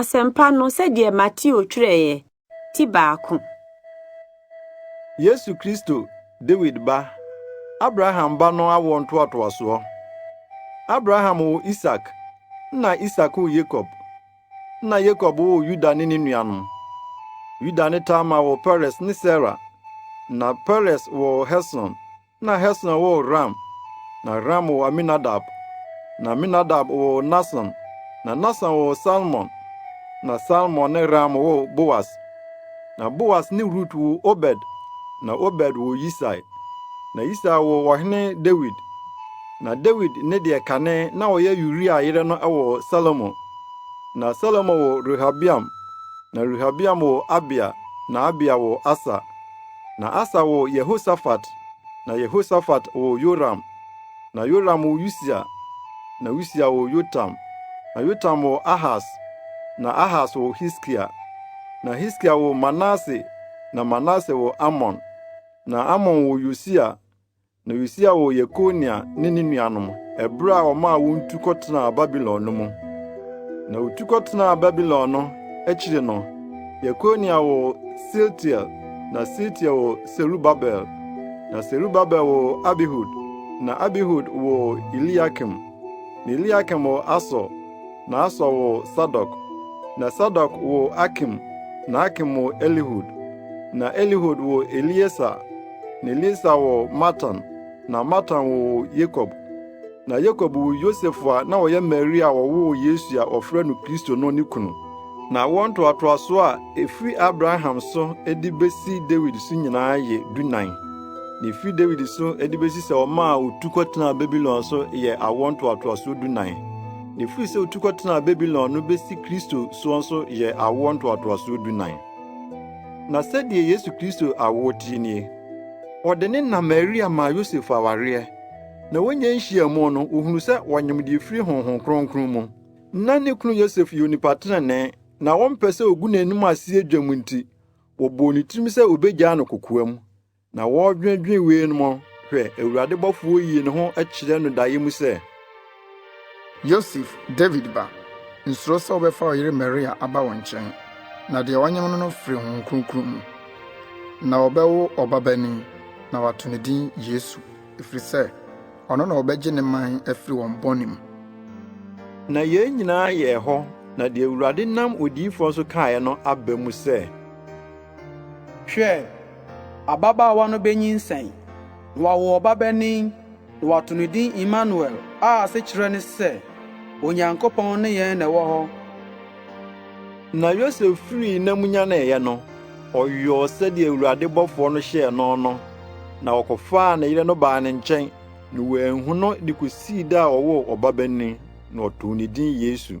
Asɛmpa no sɛdeɛ Mateo twerɛeɛ, ti baako. Yesu Kristo, Dawid ba, Abraham ba no awoɔ ntoatoasoɔ. Abraham woo Isak, nna Isak woo Yakob, nna Yakob woo Yuda ne ne nuanom. Yuda ne Tamar woo Peres ne Sera, nna Peres woo Hesron, Na Hesron woo Ram, na Ram woo Aminadab, na Aminadab woo Nahson, na Nahson woo Salmon, na Salmon ne Ram woo Boas. Na Boas ne Rut woo Obed, na Obed woo Yisai, na Yisai woo ɔhene Dawid. Na Dawid ne deɛ kane na ɔyɛ Uria yere no woo Salomo. Na Salomo woo Rehabeam, na Rehabeam woo Abia, na Abia woo Asa. Na Asa woo Yehosafat, na Yehosafat woo Yoram, na Yoram woo Usia, na Usia woo Yotam, na Yotam woo Ahas, na Ahas woo Hiskia, na Hiskia woo Manase, na Manase woo Amon, na Amon woo Yosia, Na Yosia woo Yekonia ne ne nuanom bere a wɔmaa wɔn tu kɔtenaa Babilon no mu. Na wotu kɔtenaa Babilon no akyiri no, Yekonia woo Sealtiel, na Sealtiel woo Serubabel, na Serubabel woo Abihud, na Abihud woo Eliakim, na Eliakim woo Asor, na Asor woo Sadok, na Sadok woo Akim, na Akim woo Elihud, na Elihud woo Eliesa, na Elisa woo Matan, na Matan woo Yakob. Na Yakob woo Yosef a na ɔyɛ Maria a ɔwoo Yesu a wɔfrɛ no Kristo no ne kunu. Na wɔn ntoatoasoɔ a ɛfiri Abraham so de bɛsi Dawid so nyinaa yɛ dunan. Na ɛfiri Dawid so de bɛsi sɛ ɔmaa ɔtu kɔtenaa Babilon so yɛ awoɔ ntoatoasoɔ dunan. Na ɛfiri sɛ ɔtu kɔtenaa Babilon no bɛsi Kristo soɔ nso yɛ awoɔ ntoatoasoɔ dunan. Na sɛdeɛ Yesu Kristo awoɔ teɛ nie: Wɔde ne na Maria maa Yosef awareɛ, na wɔnya nhyiamu no, wɔhunu sɛ wɔnyem deɛ ɛfiri Honhom Kronkron mu. Na ne kunu Yosef yɛ onipa tenenee, na wɔmpɛ sɛ wɔgu n'anim aseɛ dwam nti, wɔbɔɔ ne tirim sɛ wɔbɛgyaa no kokoam. Na wɔredwendwen wei no mɔ, hwɛ, Awurade bɔfoɔ yii ne ho kyerɛɛ no daeɛ mu sɛ. Yosef, Dawid ba, nsuro sɛ wobɛfa wo yere Maria aba wo nkyɛn, na deɛ wɔanyem no no firi Honhom Kronkron mu. Na wɔbɛwo ɔbabanin, na wɔato ne din Yesu, ɛfiri sɛ ɔno na ɔbɛgye ne man afiri wɔn bɔne mu. Na yei nyinaa yɛɛ hɔ, na deɛ Awurade nam odiyifoɔ so kaeɛ no aba mu sɛ. Hwɛ! Ababaawa no benyinsɛn, na wawo ɔbabanin, na wɔato no din Imanuel, a asekyerɛ ne sɛ, Onyankopɔn ne yɛn na ɛwɔ hɔ. Na Yosef firii nna mu nyaneeɛ no, ɔyɔɔ sɛdeɛ Awurade bɔfoɔ no hyɛɛ no no, na ɔkɔfaa ne yere no baa ne nkyɛn, na wanhu no de kɔsii da a ɔwoo ɔbabanin, na ɔtoo ne din Yesu.